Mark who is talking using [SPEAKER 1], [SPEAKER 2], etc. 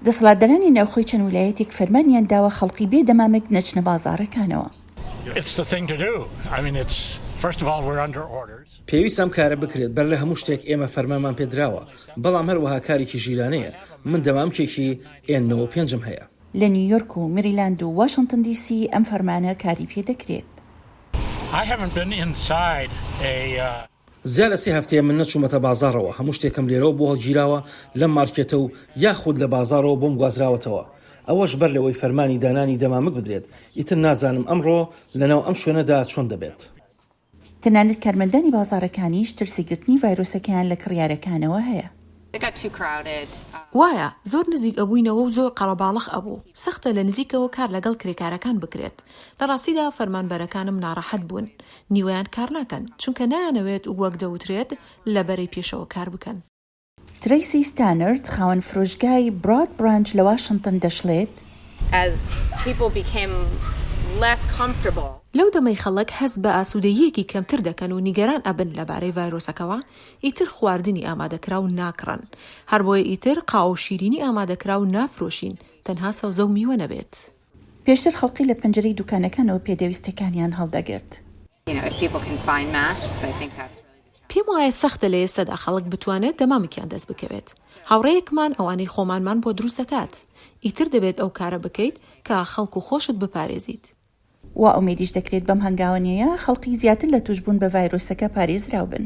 [SPEAKER 1] دەسەڵاتدارانی ناوخۆی چەند ولایەتێک فەرمانیان داوە خەڵکی بێ دەمامک نەچنە بازاڕەکانەوە.
[SPEAKER 2] پێویستە ئەم کارە بکرێت، بەر لە هەموو شتێک ئێمە فەرمانمان پێ دراوە، بەڵام هەروەها کارێکی ژیرانەیە، من دەمامکێکی ئێن نۆ وە پێنج م هەیە. لە نیویۆرک و
[SPEAKER 1] مریلاند و واشنتن دی سی ئەم فەرمانە کاری پێ دەکرێت.
[SPEAKER 2] زیاد لە سێ هەفتەیە من نەچوومەتە بازاڕەوە، هەموو شتێکم لێرەوە بۆ هەڵگیراوە لەم مارکێتە و یاخود لە بازاڕەوە بۆم گوازراوەتەوە، ئەوەش بەر لەوەی فەرمانی دانانی دەمامک بدرێت، ئیتر نازانم ئەمڕۆ لەناو ئەم شوێنەدا چۆن دەبێت. تەنانەت
[SPEAKER 1] کارمەندانی بازاڕەکانیش ترسی گرتنی ڤایرۆسەکەیان لە کڕیارەکانەوە هەیە. وایە
[SPEAKER 3] زۆر نزیک ئەبووینەوە و زۆر قەرەباڵخ ئەبوو سەختە لە نزیکەوە کار لەگەڵ کرێکارەکان بکرێت لە ڕاستیدا فەرمانبەرەکانم ناڕەحەت بوون نیوەیان کار ناکەن چونکە نایانەوێت وەک دەوترێت لە بەرەی پێشەوە کار بکەن. ترەیسی
[SPEAKER 1] ستانرد خاوەن فرۆشگای براد برانچ لە واشنتن دەشڵێت،
[SPEAKER 3] لەو دەمەی خەڵک هەست بە ئاسوودەییەکی کەمتر دەکەن و نیگەران ئەبن لەبارەی ڤایرۆسەکەوە ئیتر خواردنی ئامادەکراو ناکڕن، هەربۆیە ئیتر قاوەو شیرینی ئامادەکراو نافرۆشین، تەنها سەوزەو میوە نەبێت. پێشتر خەڵکی
[SPEAKER 1] لە پەنجەرەی دوکانەکانەوە پێدەویستەکانیان هەڵدەگرت.
[SPEAKER 3] پێم وایە سەختە لە ئێستەدا خەڵک بتوانێت دەمامکیان دەست بکەوێت، هاوڕێیەکمان ئەوانەی خۆمانمان بۆ دروست دەکات، ئیتر دەبێت ئەو کارە بکەیت کە خەڵک و خۆشت بپارێزیت. وا
[SPEAKER 1] ئومێدیش دەکرێت بەم هەنگاوە نێیە خەڵکی زیاتر لە تووشبوون بە ڤایرۆسەکە پارێزراو بن.